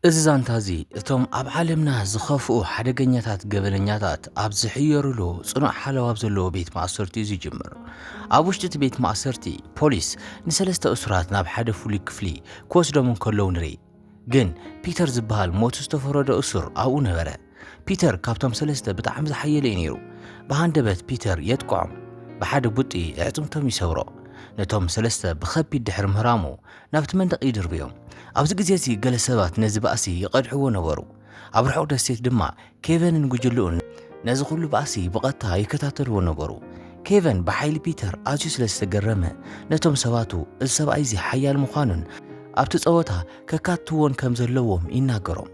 እዚ ዛንታ እዚ እቶም ኣብ ዓለምና ዝኸፍኡ ሓደገኛታት ገበነኛታት ኣብ ዝሕየሩሉ ጽኑዕ ሓለዋ ኣብ ዘለዎ ቤት ማእሰርቲ እዩ ዝጅምር። ኣብ ውሽጢ እቲ ቤት ማእሰርቲ ፖሊስ ንሰለስተ እሱራት ናብ ሓደ ፍሉይ ክፍሊ ክወስዶም እንከለዉ ንርኢ። ግን ፒተር ዝበሃል ሞት ዝተፈረዶ እሱር ኣብኡ ነበረ። ፒተር ካብቶም ሰለስተ ብጣዕሚ ዝሓየለ እዩ ነይሩ። ብሃንደበት ፒተር የጥቅዖም። ብሓደ ቡጢ ኣዕጽምቶም ይሰብሮ። ነቶም ሰለስተ ብኸቢድ ድሕሪ ምህራሙ ናብቲ መንደቕ ይድርብዮም። ኣብዚ ግዜ እዚ ገለ ሰባት ነዚ ባእሲ ይቐድሕዎ ነበሩ። ኣብ ርሑቕ ደሴት ድማ ኬቨንን ጉጅልኡን ነዚ ኹሉ ባእሲ ብቐጥታ ይከታተልዎ ነበሩ። ኬቨን ብሓይሊ ፒተር ኣዝዩ ስለ ዝተገረመ ነቶም ሰባቱ እዚ ሰብኣይ እዚ ሓያል ምዃኑን ኣብቲ ጸወታ ከካትትዎን ከም ዘለዎም ይናገሮም።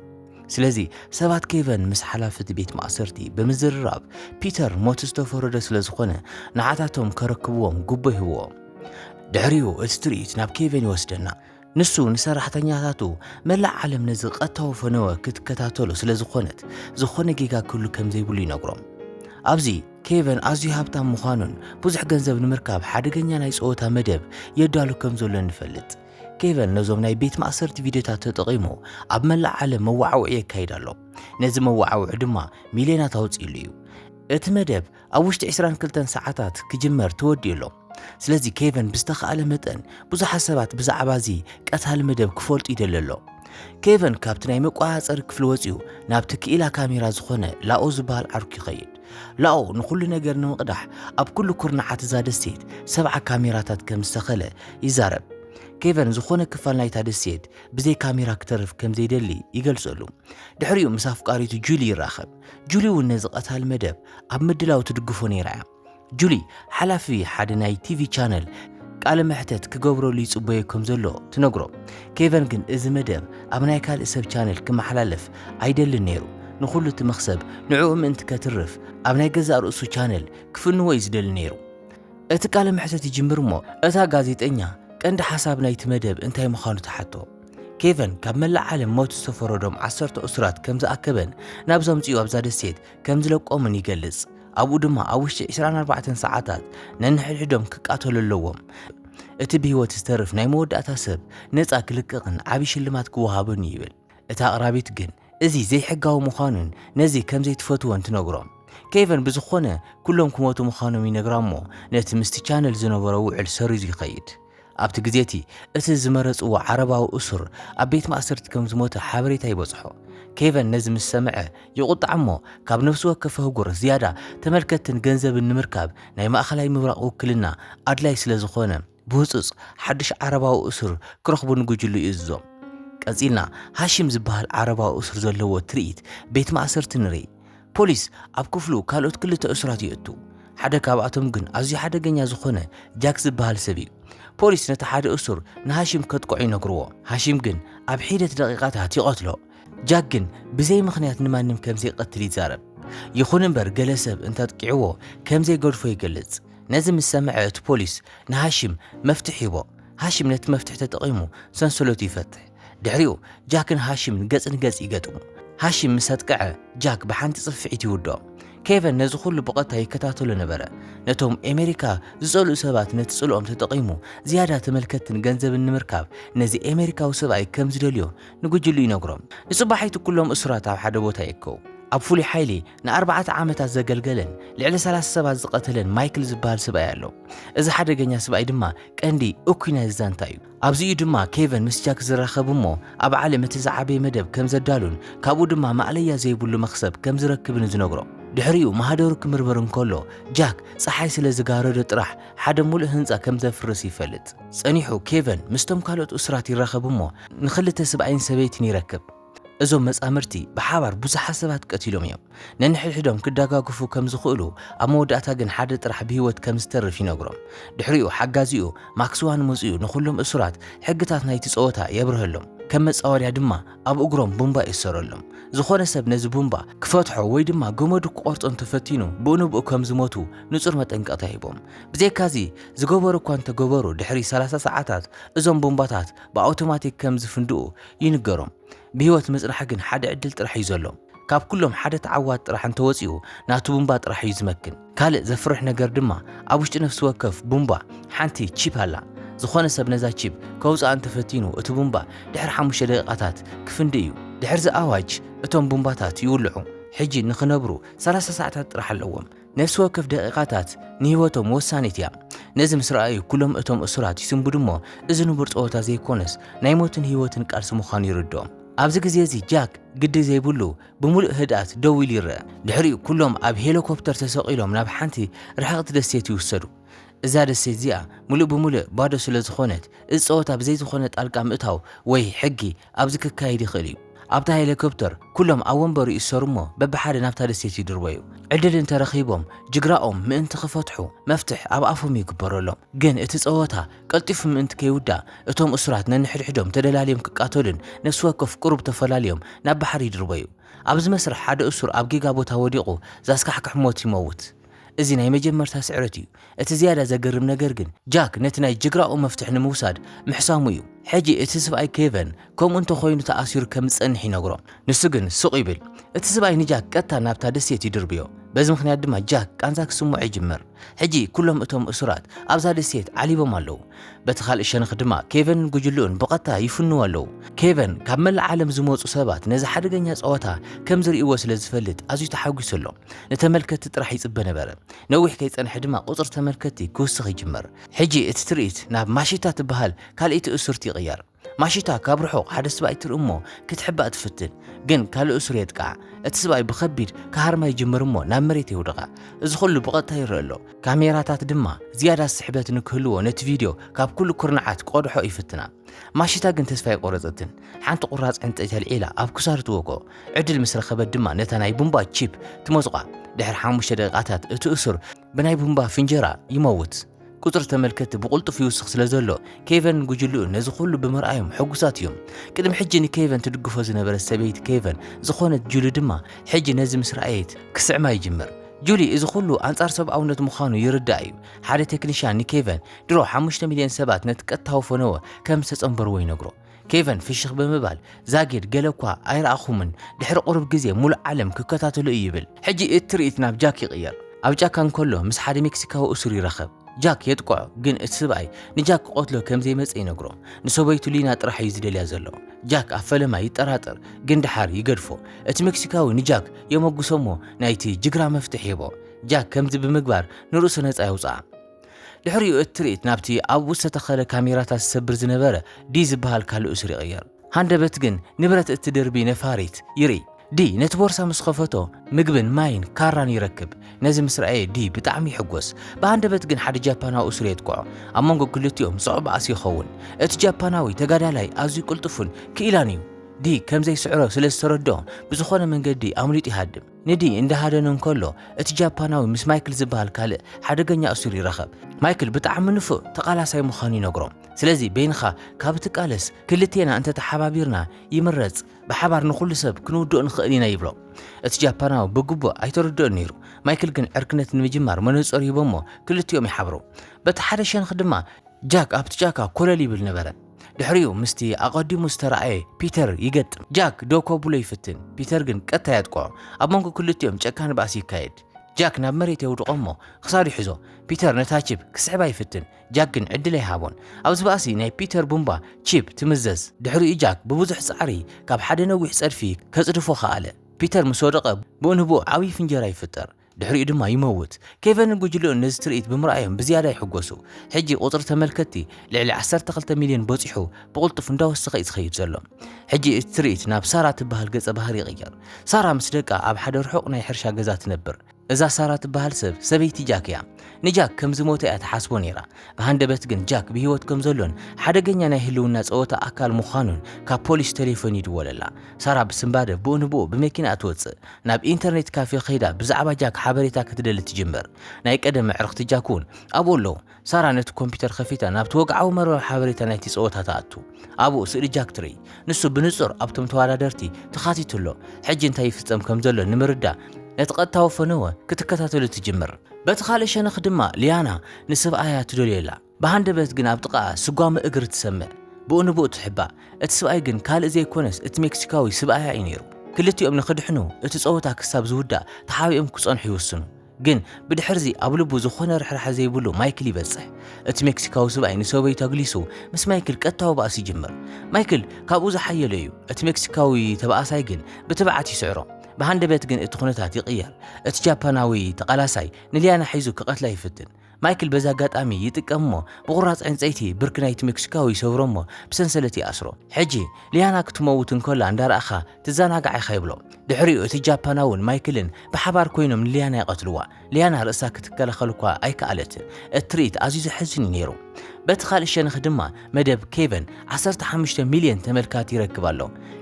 ስለዚ ሰባት ኬቨን ምስ ሓላፊ እቲ ቤት ማእሰርቲ ብምዝርራብ ፒተር ሞት ዝተፈረዶ ስለ ዝኾነ ንዓታቶም ከረክብዎም ጉቦ ይህብዎም። ድሕሪኡ እቲ ትርኢት ናብ ኬቨን ይወስደና። ንሱ ንሰራሕተኛታቱ መላእ ዓለም ነዚ ቀጥታዊ ፈነወ ክትከታተሎ ስለ ዝኾነት ዝኾነ ጌጋ ክህሉ ከም ዘይብሉ ይነግሮም። ኣብዚ ኬቨን ኣዝዩ ሃብታም ምዃኑን ብዙሕ ገንዘብ ንምርካብ ሓደገኛ ናይ ጸወታ መደብ የዳሉ ከም ዘሎን ንፈልጥ። ኬቨን ነዞም ናይ ቤት ማእሰርቲ ቪድዮታት ተጠቒሙ ኣብ መላእ ዓለም መወዓውዒ የካይድ ኣሎ። ነዚ መወዓውዒ ድማ ሚልዮናት ኣውጺኡሉ እዩ። እቲ መደብ ኣብ ውሽጢ ዕስራን ክልተን ሰዓታት ክጅመር ተወዲኡ ኣሎ። ስለዚ ኬቨን ብዝተኻእለ መጠን ብዙሓት ሰባት ብዛዕባ እዚ ቀታሊ መደብ ክፈልጡ ይደሊ ኣሎ። ኬቨን ካብቲ ናይ መቆጻጸሪ ክፍሊ ወጺኡ ናብቲ ክኢላ ካሜራ ዝኾነ ላኦ ዝበሃል ዓርኩ ይኸይድ። ላኦ ንኹሉ ነገር ንምቕዳሕ ኣብ ኩሉ ኩርናዓት እዛ ደሴት ሰብዓ ካሜራታት ከም ዝተኸለ ይዛረብ። ኬቨን ዝኾነ ክፋል ናይታ ደሴት ብዘይ ካሜራ ክተርፍ ከም ዘይደሊ ይገልጸሉ። ድሕሪኡ ምስ ኣፍቃሪቱ ጁሊ ይራኸብ። ጁሊ እውን ነዚ ቀታሊ መደብ ኣብ ምድላው ትድግፎ ነይራ እያ። ጁሊ ሓላፊ ሓደ ናይ ቲቪ ቻነል ቃለ መሕተት ክገብረሉ ይጽበዮ ከም ዘሎ ትነግሮ። ኬቨን ግን እዚ መደብ ኣብ ናይ ካልእ ሰብ ቻነል ክመሓላለፍ ኣይደልን ነይሩ ንኹሉ እቲ መኽሰብ ንዕኡ ምእንቲ ከትርፍ ኣብ ናይ ገዛእ ርእሱ ቻነል ክፍንዎ እዩ ዝደሊ ነይሩ። እቲ ቃለ መሕትት ይጅምር እሞ እታ ጋዜጠኛ ቀንዲ ሓሳብ ናይቲ መደብ እንታይ ምዃኑ ትሓቶ። ኬቨን ካብ መላእ ዓለም ሞት ዝተፈረዶም ዓሰርተ እሱራት ከም ዝኣከበን ናብዚ ኣምጺኡ ኣብዛ ደሴት ከም ዝለቆምን ይገልጽ። ኣብኡ ድማ ኣብ ውሽጢ ዕስራን ኣርባዕተን ሰዓታት ነንሕድሕዶም ክቃተሉ ኣለዎም። እቲ ብህይወት ዝተርፍ ናይ መወዳእታ ሰብ ነጻ ክልቀቕን ዓቢ ሽልማት ክወሃቦን እዩ ይብል። እታ ኣቕራቢት ግን እዚ ዘይሕጋዊ ምዃኑን ነዚ ከም ዘይትፈትዎን ትነግሮም። ኬቨን ብዝኾነ ኩሎም ክሞቱ ምዃኖም ይነግራ እሞ ነቲ ምስቲ ቻነል ዝነበሮ ውዕል ሰሪዙ ይኸይድ። ኣብቲ ግዜ እቲ እቲ ዝመረጽዎ ዓረባዊ እሱር ኣብ ቤት ማእሰርቲ ከም ዝሞተ ሓበሬታ ይበጽሖ። ኬቨን ነዚ ምስ ሰምዐ ይቑጣዕ እሞ ካብ ነፍሲ ወከፍ ኣህጉር ዝያዳ ተመልከትትን ገንዘብን ንምርካብ ናይ ማእከላይ ምብራቕ ውክልና ኣድላይ ስለ ዝኾነ ብህጹጽ ሓድሽ ዓረባዊ እሱር ክረኽቡ ንጉጅልኡ ይእዝዞም። ቀጺልና ሃሺም ዝበሃል ዓረባዊ እሱር ዘለዎ ትርኢት ቤት ማእሰርቲ ንርኢ። ፖሊስ ኣብ ክፍሉ ካልኦት ክልተ እሱራት የእቱ። ሓደ ካብኣቶም ግን ኣዝዩ ሓደገኛ ዝኾነ ጃክ ዝበሃል ሰብ እዩ። ፖሊስ ነቲ ሓደ እሱር ንሃሺም ከጥቅዖ ይነግርዎ። ሃሺም ግን ኣብ ሒደት ደቂቓታት ይቐትሎ። ጃክ ግን ብዘይ ምኽንያት ንማንም ከምዘይቀትል ይዛረብ። ይኹን እምበር ገለ ሰብ እንተጥቂዕዎ ከምዘይገድፎ ይገልጽ። ነዚ ምስ ሰምዐ እቲ ፖሊስ ንሃሺም መፍትሕ ይህቦ። ሃሺም ነቲ መፍትሕ ተጠቒሙ ሰንሰለቱ ይፈትሕ። ድሕሪኡ ጃክን ሃሺምን ገጽ ንገጽ ይገጥሙ። ሃሺም ምስ ኣጥቅዐ ጃክ ብሓንቲ ጽፍዒት ይውድኦ። ኬቨን ነዚ ኩሉ ብቐጥታ ይከታተሎ ነበረ። ነቶም ኤመሪካ ዝጸልኡ ሰባት ነቲ ጽልኦም ተጠቒሙ ዝያዳ ተመልከትትን ገንዘብን ንምርካብ ነዚ ኤመሪካዊ ሰብኣይ ከም ዝደልዮ ንጉጅልኡ ይነግሮም። ንጽባሒቱ ኩሎም እሱራት ኣብ ሓደ ቦታ ይእከቡ። ኣብ ፍሉይ ሓይሊ ንኣርባዕተ ዓመታት ዘገልገለን ልዕሊ ሰላሳ ሰባት ዝቐተለን ማይክል ዝበሃል ስብኣይ ኣሎ። እዚ ሓደገኛ ስብኣይ ድማ ቀንዲ እኩይ ናይዚ ዛንታ እዩ። ኣብዚ እዩ ድማ ኬቨን ምስ ጃክ ዝራኸብ እሞ ኣብ ዓለም እቲ ዝዓበየ መደብ ከም ዘዳሉን ካብኡ ድማ ማእለያ ዘይብሉ መኽሰብ ከም ዝረክብን ዝነግሮ። ድሕሪኡ ማህደሩ ክምርምር እንከሎ ጃክ ጸሓይ ስለ ዝጋረዶ ጥራሕ ሓደ ምሉእ ህንጻ ከም ዘፍርስ ይፈልጥ። ጸኒሑ ኬቨን ምስቶም ካልኦት እሱራት ይራኸብ እሞ ንኽልተ ስብኣይን ሰበይትን ይረክብ። እዞም መጻምድቲ ብሓባር ብዙሓት ሰባት ቀቲሎም እዮም። ነንሕድሕዶም ክደጋገፉ ከም ዝኽእሉ፣ ኣብ መወዳእታ ግን ሓደ ጥራሕ ብህይወት ከም ዝተርፍ ይነግሮም። ድሕሪኡ ሓጋዚኡ ማክስዋን መጺኡ ንዅሎም እሱራት ሕግታት ናይቲ ጸወታ የብርሀሎም። ከም መጻወድያ ድማ ኣብ እግሮም ቡምባ ይእሰረሎም። ዝዀነ ሰብ ነዚ ቡምባ ክፈትሖ ወይ ድማ ገመዱ ክቖርጾ እንተ ፈቲኑ ብኡንብኡ ከም ዝሞቱ ንጹር መጠንቀቕታ ሂቦም። ብዘይካዚ፣ ዝገበሩ እኳ እንተ ገበሩ ድሕሪ ሰላሳ ሰዓታት እዞም ቡምባታት ብኣውቶማቲክ ከም ዝፍንድኡ ይንገሮም ብህይወት ምጽናሕ ግን ሓደ ዕድል ጥራሕ እዩ ዘሎም ካብ ኩሎም ሓደ ተዓዋት ጥራሕ እንተወጺኡ ናቱ ቡምባ ጥራሕ እዩ ዝመክን ካልእ ዘፍርሕ ነገር ድማ ኣብ ውሽጢ ነፍሲ ወከፍ ቡምባ ሓንቲ ቺፕ ኣላ ዝኾነ ሰብ ነዛ ቺፕ ከውጽኣ እንተፈቲኑ እቲ ቡምባ ድሕሪ ሓሙሽተ ደቂቃታት ክፍንዲ እዩ ድሕርዚ ኣዋጅ እቶም ቡምባታት ይውልዑ ሕጂ ንኽነብሩ ሰላሳ ሰዓታት ጥራሕ ኣለዎም ነፍሲ ወከፍ ደቒቓታት ንህይወቶም ወሳኒት እያ። ነዚ ምስ ረኣዩ ኩሎም እቶም እሱራት ይስንብዱ እሞ እዚ ንቡር ጸወታ ዘይኮነስ ናይ ሞትን ህይወትን ቃልሲ ምዃኑ ይርድኦም። ኣብዚ ግዜ እዚ ጃክ ግዲ ዘይብሉ ብምሉእ ህድኣት ደው ኢሉ ይረኣ። ድሕሪኡ ኩሎም ኣብ ሄሊኮፕተር ተሰቒሎም ናብ ሓንቲ ርሕቕቲ ደሴት ይውሰዱ። እዛ ደሴት እዚኣ ምሉእ ብምሉእ ባዶ ስለ ዝኾነት እዚ ጸወታ ብዘይ ዝኾነ ጣልቃ ምእታው ወይ ሕጊ ኣብዚ ክካየድ ይኽእል እዩ። ኣብታ ሄሊኮፕተር ኩሎም ኣብ ወንበሩ ይእሰሩ'ሞ በብሓደ ናብታ ደሴት ይድርበዩ። ዕድል እንተ ረኺቦም ጅግራኦም ምእንቲ ክፈትሑ መፍትሕ ኣብ ኣፎም ይግበረሎም። ግን እቲ ጸወታ ቀልጢፉ ምእንቲ ከይውዳእ እቶም እሱራት ነንሕድሕዶም ተደላልዮም ክቃተሉን ነፍሲ ወከፍ ቁሩብ ተፈላልዮም ናብ ባሕሪ ይድርበዩ። ኣብዚ መስርሕ ሓደ እሱር ኣብ ጌጋ ቦታ ወዲቑ ዛስካሕክሕ ሞት ይመውት። እዚ ናይ መጀመርታ ስዕረት እዩ። እቲ ዝያዳ ዘገርም ነገር ግን ጃክ ነቲ ናይ ጅግራኡ መፍትሕ ንምውሳድ ምሕሳሙ እዩ። ሕጂ እቲ ስብኣይ ኬቨን ከምኡ እንተ ኾይኑ ተኣሲሩ ከም ዝጸንሕ ይነግሮ። ንሱ ግን ስቕ ይብል። እቲ ስብኣይ ንጃክ ቀጥታ ናብታ ደሴት ይድርብዮ። በዚ ምኽንያት ድማ ጃክ ቃንዛ ክስምዖ ይጅምር። ሕጂ ኩሎም እቶም እሱራት ኣብዛ ደሴት ዓሊቦም ኣለዉ። በቲ ካልእ ሸነኽ ድማ ኬቨንን ጉጅልኡን ብቐጥታ ይፍንዉ ኣለዉ። ኬቨን ካብ መላእ ዓለም ዝመጹ ሰባት ነዚ ሓደገኛ ጸወታ ከም ዝርእይዎ ስለ ዝፈልጥ ኣዝዩ ተሓጒሱ ኣሎ። ንተመልከትቲ ጥራሕ ይጽበ ነበረ። ነዊሕ ከይጸንሐ ድማ ቁጽሪ ተመልከትቲ ክውስኽ ይጅመር። ሕጂ እቲ ትርኢት ናብ ማሺታ ትበሃል ካልእይቲ እሱርቲ ይቕየር። ማሺታ ካብ ርሑቕ ሓደ ስብኣይ ትርኢ እሞ ክትሕባእ ትፍትን። ግን ካልእ እሱር የጥቅዓ። እቲ ስብኣይ ብኸቢድ ክሃርማ ይጅምር እሞ ናብ መሬት የውድቓ። እዚ ኩሉ ብቐጥታ ይረእ ኣሎ። ካሜራታት ድማ ዝያዳ ስሕበት ንክህልዎ ነቲ ቪድዮ ካብ ኩሉ ኩርናዓት ክቐድሖ ይፍትና። ማሺታ ግን ተስፋ ኣይቖረጸትን። ሓንቲ ቁራጽ ዕንጸይቲ ኣልዒላ ኣብ ክሳዱ ትወግኦ። ዕድል ምስ ረኸበት ድማ ነታ ናይ ቡምባ ቺፕ ትመጹቓ። ድሕሪ ሓሙሽተ ደቂቓታት እቲ እሱር ብናይ ቡምባ ፍንጀራ ይመውት። ቁጽሪ ተመልከትቲ ብቕልጡፍ ይውስኽ ስለ ዘሎ፣ ኬቨንን ጉጅልኡን ነዚ ኹሉ ብምርኣዮም ሕጉሳት እዮም። ቅድሚ ሕጂ ንኬቨን ትድግፎ ዝነበረት ሰበይቲ ኬቨን ዝኾነት ጁሊ ድማ ሕጂ ነዚ ምስ ረኣየት ክስዕማ ይጅምር። ጁሊ እዚ ኹሉ ኣንጻር ሰብኣውነት ምዃኑ ይርድኣ እዩ። ሓደ ቴክኒሻን ንኬቨን ድሮ ሓሙሽተ ሚልዮን ሰባት ነቲ ቀጥታዊ ፈነወ ከም ዝተጸንበርዎ ይነግሮ። ኬቨን ፍሽኽ ብምባል፣ ዛጊድ ገለ እኳ ኣይረኣኹምን፣ ድሕሪ ቁሩብ ግዜ ምሉእ ዓለም ክከታተሎ እዩ ይብል። ሕጂ እቲ ትርኢት ናብ ጃክ ይቕየር። ኣብ ጫካ እንከሎ ምስ ሓደ ሜክሲካዊ እሱር ይራኸብ። ጃክ የጥቅዖ፣ ግን እቲ ስብኣይ ንጃክ ክቐትሎ ከም ዘይመጸ ይነግሮ። ንሰበይቱ ሊና ጥራሕ እዩ ዝደልያ ዘሎ። ጃክ ኣብ ፈለማ ይጠራጠር፣ ግን ደሓር ይገድፎ። እቲ ሜክሲካዊ ንጃክ የመጉሶ እሞ ናይቲ ጅግራ መፍትሕ ይህቦ። ጃክ ከምዚ ብምግባር ንርእሱ ነጻ የውጽኣ። ድሕሪኡ እቲ ትርኢት ናብቲ ኣብኡ ዝተተኸለ ካሜራታት ዝሰብር ዝነበረ ዲ ዝበሃል ካልእ ሱር ይቕየር። ሃንደበት ግን ንብረት እቲ ድርቢ ነፋሪት ይርኢ። ዲ ነቲ ቦርሳ ምስ ኸፈቶ ምግብን ማይን ካራን ይረክብ። ነዚ ምስ ረኣየ ዲ ብጣዕሚ ይሕጎስ። ብሃንደበት ግን ሓደ ጃፓናዊ እሱር የጥቅዖ። ኣብ መንጎ ክልቲኦም ጸዕባ'ሲ ይኸውን። እቲ ጃፓናዊ ተጋዳላይ ኣዝዩ ቅልጡፍን ክኢላን እዩ። ዲ ከም ዘይስዕሮ ስለ ዝተረድኦ ብዝኾነ መንገዲ ኣምሊጡ ይሃድም። ንዲ እንዳሃደነ እንከሎ እቲ ጃፓናዊ ምስ ማይክል ዝበሃል ካልእ ሓደገኛ እሱር ይራኸብ። ማይክል ብጣዕሚ ንፉዕ ተቓላሳይ ምዃኑ ይነግሮም። ስለዚ በይንኻ ካብ እትቃለስ ክልቴና እንተ ተሓባቢርና ይምረጽ፣ ብሓባር ንኹሉ ሰብ ክንውድኦ ንኽእል ኢና ይብሎ። እቲ ጃፓናዊ ብግቡእ ኣይተረድኦን ነይሩ። ማይክል ግን ዕርክነት ንምጅማር መነጸሩ ሂቦሞ ክልቲኦም ይሓብሩ። በቲ ሓደ ሸንኽ ድማ ጃክ ኣብቲ ጫካ ኮለል ይብል ነበረ። ድሕሪኡ ምስቲ ኣቐዲሙ ዝተራእየ ፒተር ይገጥም። ጃክ ደው ከብሎ ይፍትን፣ ፒተር ግን ቀጥታ የጥቅዖ። ኣብ መንጎ ክልቲኦም ጨካን ባእሲ ይካየድ። ጃክ ናብ መሬት የውድቖ እሞ ክሳዱ ይሕዞ። ፒተር ነታ ቺፕ ክስሕባ ይፍትን፣ ጃክ ግን ዕድል ኣይሃቦን። ኣብዚ ባእሲ ናይ ፒተር ቡምባ ቺፕ ትምዘዝ። ድሕሪኡ ጃክ ብብዙሕ ጻዕሪ ካብ ሓደ ነዊሕ ጸድፊ ከጽድፎ ከኣለ። ፒተር ምስ ወደቐ ብኡንብኡ ዓብዪ ፍንጀራ ይፍጠር። ድሕሪኡ ድማ ይመውት። ኬቨንን ጉጅልኡን ነዚ ትርኢት ብምርኣዮም ብዝያዳ ይሕጎሱ። ሕጂ ቁጽሪ ተመልከትቲ ልዕሊ ዓሰርተ ክልተ ሚልዮን በጺሑ ብቕልጡፍ እንዳወሰኸ እዩ ዝኸይድ ዘሎ። ሕጂ እቲ ትርኢት ናብ ሳራ ትበሃል ገጸ ባህሪ ይቕየር። ሳራ ምስ ደቃ ኣብ ሓደ ርሑቕ ናይ ሕርሻ ገዛ ትነብር። እዛ ሳራ ትበሃል ሰብ ሰበይቲ ጃክ እያ። ንጃክ ከም ዝሞተ እያ ትሓስቦ ነይራ። ብሃንደበት ግን ጃክ ብህይወት ከም ዘሎን ሓደገኛ ናይ ህልውና ጸወታ ኣካል ምዃኑን ካብ ፖሊስ ተሌፎን ይድወለላ። ሳራ ብስንባደ ብኡ ንብኡ ብመኪናኣ ትወጽእ። ናብ ኢንተርኔት ካፌ ከይዳ ብዛዕባ ጃክ ሓበሬታ ክትደሊ ትጅምር። ናይ ቀደም ኣዕርኽቲ ጃክ እውን ኣብኡ ኣለዉ። ሳራ ነቲ ኮምፒዩተር ከፊታ ናብቲ ወግዓዊ መርበብ ሓበሬታ ናይቲ ጸወታ ትኣቱ። ኣብኡ ስእሊ ጃክ ትርኢ። ንሱ ብንጹር ኣብቶም ተወዳደርቲ ተኻቲቱ ኣሎ። ሕጂ እንታይ ይፍጸም ከም ዘሎ ንምርዳእ ነቲ ቀጥታዊ ፈነወ ክትከታተሎ ትጅምር። በቲ ካልእ ሸነኽ ድማ ሊያና ንሰብኣያ ትደልዮ ኣላ። ብሃንደበት ግን ኣብ ጥቓኣ ስጓመ እግሪ ትሰምዕ። ብኡ ንብኡ ትሕባእ። እቲ ስብኣይ ግን ካልእ ዘይኮነስ እቲ ሜክሲካዊ ስብኣያ እዩ ነይሩ። ክልቲኦም ንኽድሕኑ እቲ ጸወታ ክሳብ ዝውዳእ ተሓቢኦም ክጸንሑ ይውስኑ። ግን ብድሕርዚ ኣብ ልቡ ዝኾነ ርሕራሐ ዘይብሉ ማይክል ይበጽሕ። እቲ ሜክሲካዊ ስብኣይ ንሰበይቱ ኣግሊሱ ምስ ማይክል ቀጥታዊ ባእሲ ይጅምር። ማይክል ካብኡ ዝሓየለ እዩ። እቲ ሜክሲካዊ ተበኣሳይ ግን ብትብዓት ይስዕሮ። ብሃንደበት ግን እቲ ኩነታት ይቕየር። እቲ ጃፓናዊ ተቓላሳይ ንሊያና ሒዙ ክቐትላ ይፍትን። ማይክል በዚ ኣጋጣሚ ይጥቀም እሞ ብቑራጽ ዕንጸይቲ ብርኪ ናይቲ ሜክሲካዊ ይሰብሮ እሞ ብሰንሰለት ይኣስሮ። ሕጂ ሊያና ክትመውት እንከላ እንዳረኣኻ ትዘናጋዕ ኢኻ ይብሎ። ድሕሪኡ እቲ ጃፓናውን ማይክልን ብሓባር ኮይኖም ንሊያና ይቐትልዋ። ሊያና ርእሳ ክትከላኸል እኳ ኣይከኣለትን። እቲ ትርኢት ኣዝዩ ዘሕዝን እዩ ነይሩ። በቲ ካልእ ሸነኽ ድማ መደብ ኬቨን ዓሰርተ ሓሙሽተ ሚልዮን ተመልካቲ ይረክብ ኣሎ።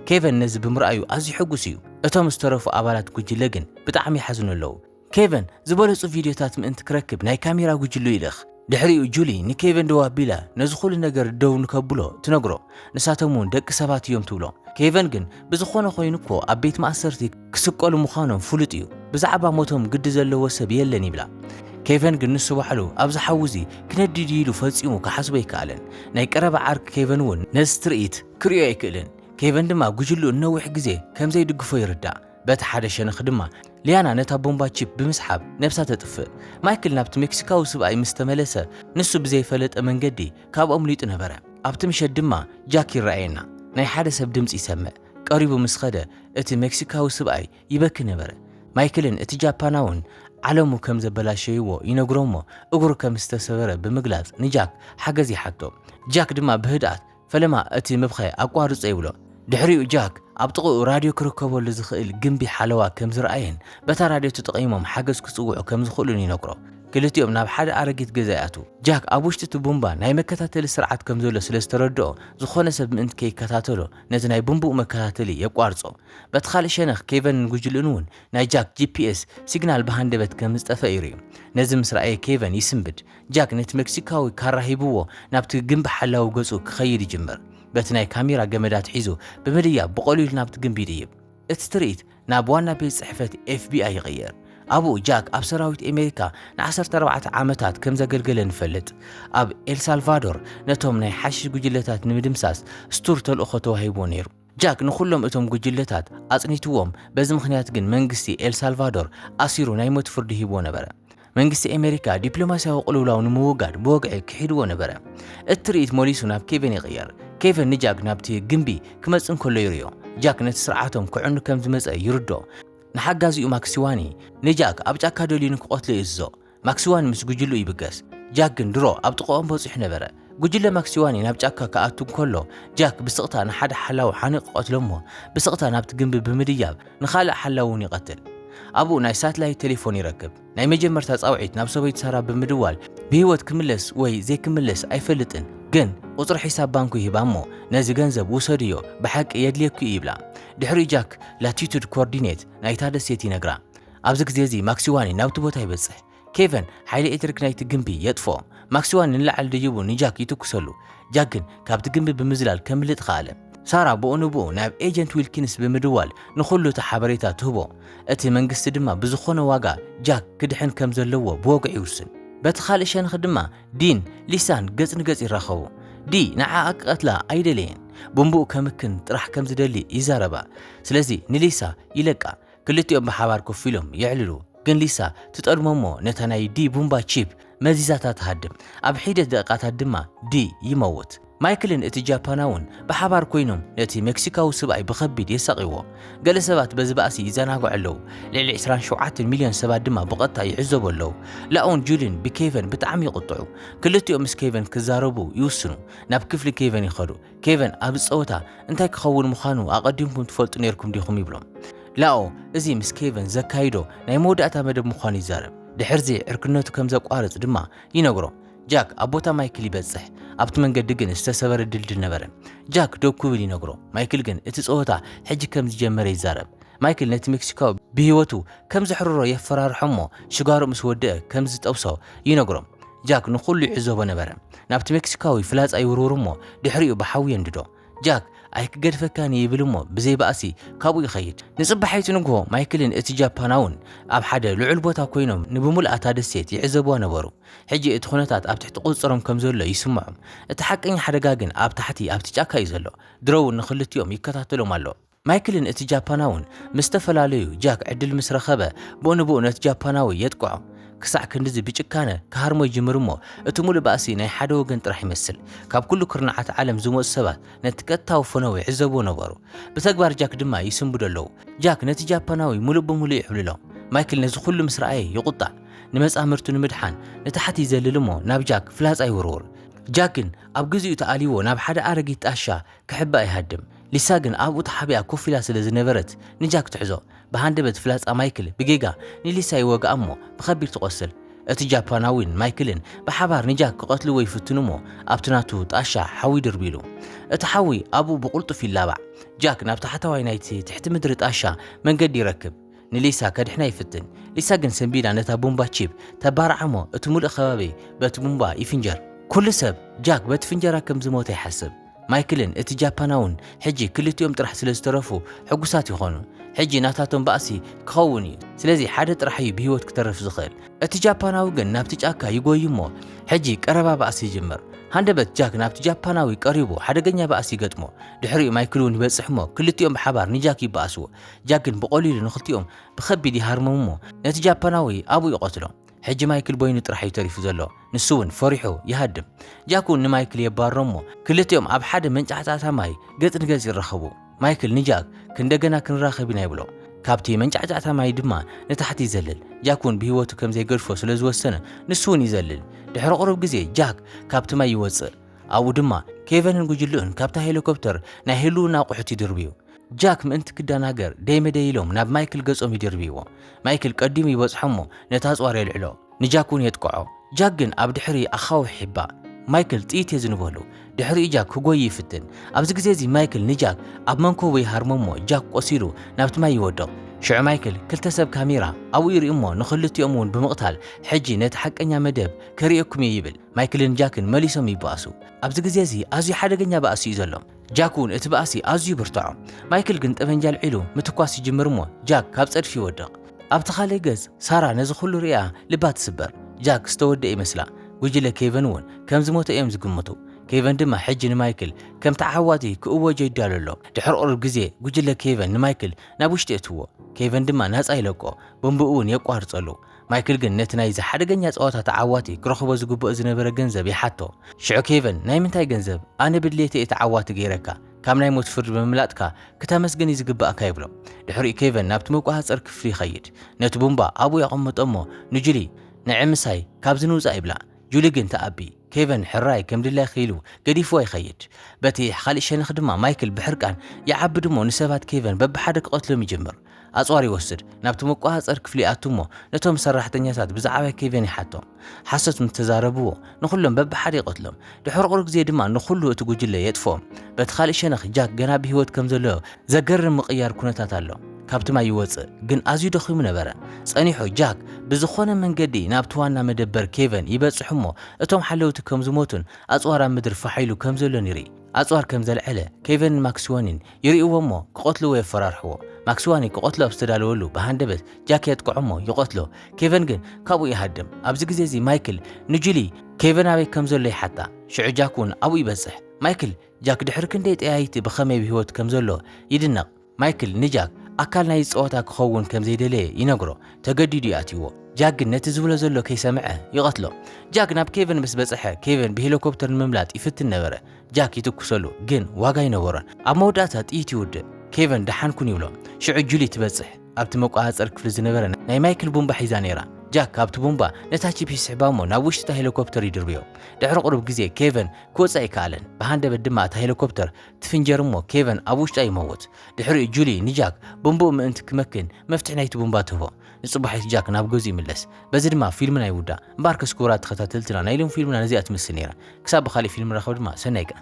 ኬቨን ነዚ ብምርኣዩ ኣዝዩ ሕጉስ እዩ። እቶም ዝተረፉ ኣባላት ጉጅለ ግን ብጣዕሚ ይሓዝኑ ኣለዉ። ኬቨን፣ ዝበለጹ ቪድዮታት ምእንቲ ክረክብ ናይ ካሜራ ጉጅልኡ ይልእኽ። ድሕሪኡ ጁሊ ንኬቨን ደው ኣቢላ ነዚ ዅሉ ነገር ደው ንከብሎ ትነግሮ፣ ንሳቶም እውን ደቂ ሰባት እዮም ትብሎ። ኬቨን ግን ብዝዀነ ዀይኑ እኮ ኣብ ቤት ማእሰርቲ ክስቀሉ ምዃኖም ፍሉጥ እዩ፣ ብዛዕባ ሞቶም ግዲ ዘለዎ ሰብ የለን ይብላ። ኬቨን ግን ንሱ ባዕሉ ኣብዚ ሓዊ እዚ ክነድድ እዩ ኢሉ ፈጺሙ ክሓስቦ ኣይከኣለን። ናይ ቀረባ ዓርኪ ኬቨን እውን ነዚ ትርኢት ክርእዮ ኣይክእልን፣ ኬቨን ድማ ጉጅልኡ ንነዊሕ ግዜ ከም ዘይድግፎ ይርዳእ። በቲ ሓደ ሸነኽ ድማ ሊያና ነታ ቦምባ ቺፕ ብምስሓብ ነብሳ ተጥፍእ። ማይክል ናብቲ ሜክሲካዊ ስብኣይ ምስ ተመለሰ ንሱ ብዘይፈለጠ መንገዲ ካብኡ ኣምሊጡ ነበረ። ኣብቲ ምሸት ድማ ጃክ ይረኣየና። ናይ ሓደ ሰብ ድምጺ ይሰምዕ። ቀሪቡ ምስ ኸደ እቲ ሜክሲካዊ ስብኣይ ይበኪ ነበረ። ማይክልን እቲ ጃፓናውን ዓለሙ ከም ዘበላሸይዎ ይነግሮ'ሞ እግሩ ከም ዝተሰበረ ብምግላጽ ንጃክ ሓገዝ ይሓቶ። ጃክ ድማ ብህድኣት ፈለማ እቲ ምብኻይ ኣቋርጾ ይብሎ። ድሕሪኡ ጃክ ኣብ ጥቕኡ ራድዮ ክርከበሉ ዝኽእል ግምቢ ሓለዋ ከም ዝረኣየን በታ ራድዮ ተጠቒሞም ሓገዝ ክጽውዑ ከም ዝኽእሉን ይነግሮ። ክልቲኦም ናብ ሓደ ኣረጊት ገዛ ይኣትዉ። ጃክ ኣብ ውሽጢ እቲ ቡምባ ናይ መከታተሊ ስርዓት ከም ዘሎ ስለ ዝተረድኦ ዝኾነ ሰብ ምእንቲ ከይከታተሎ ነቲ ናይ ቡምብኡ መከታተሊ የቋርጾ። በቲ ካልእ ሸነኽ ኬቨንን ጉጅልኡን'ውን ናይ ጃክ ጂፒኤስ ሲግናል ብሃንደበት ከም ዝጠፍአ ይርእዩ። ነዚ ምስ ረኣየ ኬቨን ይስንብድ። ጃክ ነቲ መክሲካዊ ካራ ሂብዎ ናብቲ ግምቢ ሓላዊ ገጹ ክኸይድ ይጅምር። በቲ ናይ ካሜራ ገመድ ኣትሒዙ ብምድያብ ብቐሊሉ ናብቲ ግምቢ ይድይብ። እቲ ትርኢት ናብ ዋና ቤት ጽሕፈት ኤፍቢኣይ ይቕየር። ኣብኡ ጃክ ኣብ ሰራዊት ኣሜሪካ ንዓሰርተ ኣርባዕተ ዓመታት ከም ዘገልገለ ንፈልጥ። ኣብ ኤልሳልቫዶር ነቶም ናይ ሓሽሽ ጉጅለታት ንምድምሳስ ስቱር ተልእኾ ተዋሂብዎ ነይሩ። ጃክ ንኹሎም እቶም ጉጅለታት ኣጽኒትዎም፣ በዚ ምኽንያት ግን መንግስቲ ኤል ሳልቫዶር ኣሲሩ ናይ ሞት ፍርዲ ሂብዎ ነበረ። መንግስቲ ኣሜሪካ ዲፕሎማስያዊ ቅልውላው ንምውጋድ ብወግዒ ክሒድዎ ነበረ። እቲ ትርኢት ሞሊሱ ናብ ኬቨን ይቕየር። ኬቨን ንጃክ ናብቲ ግምቢ ክመጽእ እንከሎ ይርእዮ። ጃክ ነቲ ስርዓቶም ከዕኑ ከም ዝመጸ ይርድኦ። ንሓጋዚኡ ማክሲዋኒ፣ ንጃክ ኣብ ጫካ ደልዩ ንክቐትሎ ይእዝዞ። ማክሲዋኒ ምስ ጉጅልኡ ይብገስ፣ ጃክ ግን ድሮ ኣብ ጥቐኦም በጺሑ ነበረ። ጉጅለ ማክሲዋኒ ናብ ጫካ ክኣቱ እንከሎ፣ ጃክ ብስቕታ ንሓደ ሓላዊ ሓኒቑ ይቐትሎ'ሞ ብስቕታ ናብቲ ግምቢ ብምድያብ ንኻልእ ሓላዊ'ውን ይቐትል። ኣብኡ ናይ ሳትላይት ቴሌፎን ይረክብ። ናይ መጀመርታ ጻውዒት ናብ ሰበይቱ ሳራ ብምድዋል ብህይወት ክምለስ ወይ ዘይክምለስ ኣይፈልጥን ግን ቁጽሪ ሒሳብ ባንኩ ይህባ'ሞ ነዚ ገንዘብ ውሰድዮ ብሓቂ የድልየኪ'ዩ ይብላ። ድሕሪኡ ጃክ ላቲቱድ ኮርዲኔት ናይታ ደሴት ይነግራ። ኣብዚ ግዜ እዚ ማክሲዋኒ ናብቲ ቦታ ይበጽሕ። ኬቨን ሓይሊ ኤሌክትሪክ ናይቲ ግምቢ የጥፍኦ። ማክሲዋኒ ንላዕሊ ደይቡ ንጃክ ይትኩሰሉ። ጃክ ግን ካብቲ ግምቢ ብምዝላል ከምልጥ ኸኣለ። ሳራ ብኡ ንብኡ ናብ ኤጀንት ዊልኪንስ ብምድዋል ንኹሉ እቲ ሓበሬታ ትህቦ። እቲ መንግስቲ ድማ ብዝኾነ ዋጋ ጃክ ክድሕን ከም ዘለዎ ብወግዒ ይውስን። በቲ ኻልእ ሸንኽ ድማ ዲን ሊሳን ገጽ ንገጽ ይራኸቡ። ዲ ንዓኣ ክቐትላ ኣይደለየን። ብምብኡ ከምክን ጥራሕ ከም ዝደሊ ይዛረባ። ስለዚ ንሊሳ ይለቃ። ክልቲኦም ብሓባር ኮፍ ኢሎም የዕልሉ። ግን ሊሳ ትጠልሞ'ሞ ነታ ናይ ዲ ቡምባ ቺፕ መዚዛታ ትሃድም። ኣብ ሒደት ደቂቃታት ድማ ዲ ይመውት። ማይክልን እቲ ጃፓናውን ብሓባር ኰይኖም ነቲ መክሲካዊ ስብኣይ ብኸቢድ የሳቕይዎ። ገለ ሰባት በዚ ባእሲ ይዘናግዑ ኣለዉ፣ ልዕሊ ዕስራን ሸውዓተን ሚልዮን ሰባት ድማ ብቐጥታ ይዕዘቡ ኣለዉ። ላኡን ጁሊን ብኬቨን ብጣዕሚ ይቕጥዑ። ክልቲኦም ምስ ኬቨን ክዛረቡ ይውስኑ። ናብ ክፍሊ ኬቨን ይኸዱ። ኬቨን ኣብዚ ጸወታ እንታይ ክኸውን ምዃኑ ኣቐዲምኩም ትፈልጡ ነይርኩም ዲኹም ይብሎም። ላኦ እዚ ምስ ኬቨን ዘካይዶ ናይ መወዳእታ መደብ ምዃኑ ይዛረብ። ድሕርዚ ዕርክነቱ ከም ዘቋርጽ ድማ ይነግሮ። ጃክ ኣብ ቦታ ማይክል ይበጽሕ። ኣብቲ መንገዲ ግን ዝተሰበረ ድልድል ነበረ። ጃክ ደው ክብል ይነግሮ። ማይክል ግን እቲ ጸወታ ሕጂ ከም ዝጀመረ ይዛረብ። ማይክል ነቲ ሜክሲካዊ ብህይወቱ ከም ዘሕርሮ የፈራርሖ'ሞ ሽጋርኡ ምስ ወድኣ ከም ዝጠብሶ ይነግሮ። ጃክ ንዅሉ ይዕዘቦ ነበረ። ናብቲ ሜክሲካዊ ፍላጻ ይውርውር'ሞ ድሕሪኡ ብሓዊ የንድዶ። ጃክ ኣይክገድፈካን'የ ይብል'ሞ ብዘይ ባእሲ ካብኡ ይኸይድ። ንጽባሒቱ ንግሆ ማይክልን እቲ ጃፓናውን ኣብ ሓደ ልዑል ቦታ ኰይኖም ንብምሉኣ እታ ደሴት ይዕዘብዋ ነበሩ። ሕጂ እቲ ዅነታት ኣብ ትሕቲ ቍጽጽሮም ከም ዘሎ ይስምዖም። እቲ ሓቀኛ ሓደጋ ግን ኣብ ታሕቲ ኣብቲ ጫካ'ዩ ዘሎ። ድሮ'ውን ንኽልቲኦም ይከታተሎም ኣሎ። ማይክልን እቲ ጃፓናውን ምስ ተፈላለዩ፣ ጃክ ዕድል ምስ ረኸበ፣ ብኡ ንብኡ ነቲ ጃፓናዊ የጥቅዖ። ክሳዕ ክንድዚ ብጭካነ ክሃርሞ ይጅምር እሞ፣ እቲ ምሉእ ባእሲ ናይ ሓደ ወገን ጥራሕ ይመስል። ካብ ኩሉ ኩርናዓት ዓለም ዝመጹ ሰባት ነቲ ቀጥታዊ ፈነወ ይዕዘብዎ ነበሩ። ብተግባር ጃክ ድማ ይስንብዱ ኣለዉ። ጃክ ነቲ ጃፓናዊ ምሉእ ብምሉእ ይዕብልሎ። ማይክል ነዚ ኩሉ ምስ ረኣየ ይቑጣዕ። ንመጻምርቱ ንምድሓን ንታሕቲ ይዘልል እሞ ናብ ጃክ ፍላጻ ይውርውር። ጃክ ግን ኣብ ግዚኡ ተኣልይዎ ናብ ሓደ ኣረጊት ጣሻ ክሕባእ ይሃድም። ሊሳ ግን ኣብኡ ተሓቢኣ ኮፍ ኢላ ስለ ዝነበረት ንጃክ ትሕዞ። ብሃንደበት ፍላጻ ማይክል ብጌጋ ንሊሳ ይወግኣ እሞ ብኸቢድ ትቖስል። እቲ ጃፓናዊን ማይክልን ብሓባር ንጃክ ክቐትልዎ ይፍትኑ እሞ ኣብቲ ናቱ ጣሻ ሓዊ ድርብዩ ኢሉ። እቲ ሓዊ ኣብኡ ብቕልጡፍ ይላባዕ። ጃክ ናብ ታሕታዋይ ናይቲ ትሕቲ ምድሪ ጣሻ መንገዲ ይረክብ። ንሊሳ ከድሕና ይፍትን። ሊሳ ግን ሰንቢዳ ነታ ቡምባ ቺፕ ተባርዓ እሞ እቲ ምሉእ ከባቢ በቲ ቡምባ ይፍንጀር። ኩሉ ሰብ ጃክ በቲ ፍንጀራ ከም ዝሞተ ይሓስብ። ማይክልን እቲ ጃፓናውን ሕጂ ክልቲኦም ጥራሕ ስለ ዝተረፉ ሕጉሳት ይኾኑ። ሕጂ ናታቶም ባእሲ ክኸውን እዩ፣ ስለዚ ሓደ ጥራሕ እዩ ብህይወት ክተርፍ ዝኽእል። እቲ ጃፓናዊ ግን ናብቲ ጫካ ይጎዪ እሞ ሕጂ ቀረባ ባእሲ ይጅምር። ሃንደበት ጃክ ናብቲ ጃፓናዊ ቀሪቡ ሓደገኛ ባእሲ ይገጥሞ። ድሕሪኡ ማይክል እውን ይበጽሕ እሞ ክልቲኦም ብሓባር ንጃክ ይበኣስዎ። ጃክ ግን ብቐሊሉ ንኽልቲኦም ብኸቢድ ይሃርሞም እሞ ነቲ ጃፓናዊ ኣብኡ ይቐትሎ። ሕጂ ማይክል በይኑ ጥራሕ እዩ ተሪፉ ዘሎ ንሱ ውን ፈሪሑ ይሃድም ጃክ ውን ንማይክል የባርሮ እሞ ክልቲኦም ኣብ ሓደ መንጫዕጫዕታ ማይ ገጽ ንገጽ ይራኸቡ ማይክል ንጃክ ክንደገና ክንራኸብ ኢና ይብሎ ካብቲ መንጫዕጫዕታ ማይ ድማ ንታሕቲ ይዘልል ጃክ ውን ብሂወቱ ከምዘይገድፎ ስለዝወሰነ ንሱ ውን ይዘልል ድሕሪ ቁሩብ ግዜ ጃክ ካብቲ ማይ ይወጽእ ኣብኡ ድማ ኬቨንን ጉጅልኡን ካብታ ሄለኮፕተር ናይ ህልውና ኣቑሑት ይድርብዩ ጃክ ምእንቲ ክደናገር ደይ መደይ ኢሎም ናብ ማይክል ገጾም ይድርብይዎ። ማይክል ቀዲሙ ይበጽሖ'ሞ ነቲ ኣጽዋር የልዕሎ። ንጃክ እውን የጥቅዖ። ጃክ ግን ኣብ ድሕሪ ኣኻውሕ ይሕባእ። ማይክል ጥይት የዝንበሉ። ድሕሪኡ ጃክ ክጎዪ ይፍትን። ኣብዚ ግዜ'ዚ ማይክል ንጃክ ኣብ መንኮቡ ይሃርሞ'ሞ ጃክ ቆሲሉ ናብቲ ማይ ይወድቕ። ሽዑ ማይክል ክልተ ሰብ ካሜራ ኣብኡ ይርእዩ'ሞ ንኽልቲኦም እውን ብምቕታል ሕጂ ነቲ ሓቀኛ መደብ ከርእየኩም'የ ይብል። ማይክልን ጃክን መሊሶም ይበኣሱ። ኣብዚ ግዜ'ዚ ኣዝዩ ሓደገኛ ባእሲ'ዩ ዘሎ። ጃክ እውን እቲ ባእሲ ኣዝዩ ብርትዖ። ማይክል ግን ጠበንጃ ኣልዒሉ ምትኳስ ይጅምር እሞ ጃክ ካብ ጸድፊ ይወድቕ። ኣብቲ ካልእ ገጽ ሳራ ነዚ ኹሉ ርእያ ልባ ትስበር። ጃክ ዝተወድኤ ይመስላ። ጉጅለ ኬቨን እውን ከም ዝሞተ እዮም ዝግምቱ። ኬቨን ድማ ሕጂ ንማይክል ከም ተዓዋቲ ክእወጆ ይዳሎ ኣሎ። ድሕሪ ቁሩብ ግዜ ጉጅለ ኬቨን ንማይክል ናብ ውሽጢ የእትዎ። ኬቨን ድማ ናጻ ይለቆ፣ ቦምብኡ እውን የቋርጸሉ። ማይክል ግን ነቲ ናይዚ ሓደገኛ ጸወታ ተዓዋቲ ክረኽቦ ዝግብኦ ዝነበረ ገንዘብ ይሓቶ። ሽዑ ኬቨን፣ ናይ ምንታይ ገንዘብ? ኣነ ብድሌተይ እየ ተዓዋቲ ገይረካ። ካብ ናይ ሞት ፍርዲ ብምምላጥካ ክተመስገን እዩ ዝግብኣካ ይብሎ። ድሕሪኡ ኬቨን ናብቲ መቆጻጸሪ ክፍሊ ይኸይድ። ነቲ ቡምባ ኣብኡ የቐምጦ እሞ ንጁሊ፣ ንዒ ምሳይ ካብዚ ንውጻእ ይብላ። ጁሊ ግን ትኣቢ። ኬቨን ሕራይ ከም ድላይኪ ኢሉ ገዲፍዋ ይኸይድ። በቲ ኻልእ ሸነኽ ድማ ማይክል ብሕርቃን ይዓብድ እሞ ንሰባት ኬቨን በብሓደ ክቐትሎም ይጅምር። ኣጽዋር ይወስድ፣ ናብቲ መቆጻጸሪ ክፍሊ ይኣቱ እሞ ነቶም ሰራሕተኛታት ብዛዕባ ኬቨን ይሓቶም። ሓሶት ምስ ተዛረብዎ ንኹሎም በብሓደ ይቐትሎም። ድሕሪ ቁሩብ ግዜ ድማ ንኹሉ እቲ ጉጅለ የጥፍኦም። በቲ ኻልእ ሸነኽ ጃክ ገና ብህይወት ከም ዘሎ ዘገርም ምቕያር ኩነታት ኣሎ። ካብቲ ማይ ይወጽእ፣ ግን ኣዝዩ ደኺሙ ነበረ። ጸኒሑ ጃክ ብዝኾነ መንገዲ ናብቲ ዋና መደበር ኬቨን ይበጽሕ እሞ እቶም ሓለውቲ ከም ዝሞቱን ኣጽዋር ኣብ ምድሪ ፋሕ ኢሉ ከም ዘሎን ይርኢ። ኣጽዋር ከም ዘልዐለ ኬቨንን ማክስዋኒን ይርእይዎ እሞ ክቐትልዎ የፈራርሕዎ። ማክስዋኒ ክቐትሎ ኣብ ዝተዳለወሉ ብሃንደበት ጃክ የጥቅዖ እሞ ይቐትሎ። ኬቨን ግን ካብኡ ይሃድም። ኣብዚ ግዜ እዚ ማይክል ንጁሊ ኬቨን ኣበይ ከም ዘሎ ይሓታ። ሽዑ ጃክ እውን ኣብኡ ይበጽሕ። ማይክል ጃክ ድሕሪ ክንደይ ጠያይቲ ብኸመይ ኣብ ህይወት ከም ዘሎ ይድነቕ። ማይክል ንጃክ ኣካል ናይዚ ጸወታ ክኸውን ከም ዘይደለየ ይነግሮ። ተገዲዱ እዩ ኣትይዎ። ጃክ ግን ነቲ ዝብሎ ዘሎ ከይሰምዐ ይቐትሎ። ጃክ ናብ ኬቨን ምስ በጽሐ ኬቨን ብሄሊኮፕተር ንምምላጥ ይፍትን ነበረ። ጃክ ይትኩሰሉ ግን ዋጋ ኣይነበሮን። ኣብ መወዳእታ ጥይት ይውድእ። ኬቨን ደሓን ኩን ይብሎ። ሽዑ ጁሊ ትበጽሕ። ኣብቲ መቆጻጸሪ ክፍሊ ዝነበረ ናይ ማይክል ቡምባ ሒዛ ነይራ። ጃክ ካብቲ ቡምባ ነታ ቺፕ ይስሕባ እሞ ናብ ውሽጢ እታ ሄሊኮፕተር ይድርብዮ። ድሕሪ ቁሩብ ግዜ ኬቨን ክወጽእ ኣይከኣለን። ብሃንደበት ድማ እታ ሄሊኮፕተር ትፍንጀር እሞ ኬቨን ኣብ ውሽጣ ይመውት። ድሕሪኡ ጁሊ ንጃክ ቡምብኡ ምእንቲ ክመክን መፍትሕ ናይቲ ቡምባ ትህቦ። ንጽባሒት ጃክ ናብ ገዝኡ ይምለስ። በዚ ድማ ፊልምና ይውዳእ። እምበኣርከስ ክቡራት ተኸታተልትና ናይ ሎሚ ፊልምና ነዚኣ ትመስል ነይራ። ክሳብ ብኻልእ ፊልም ንራኸብ ድማ ሰናይ ቀን።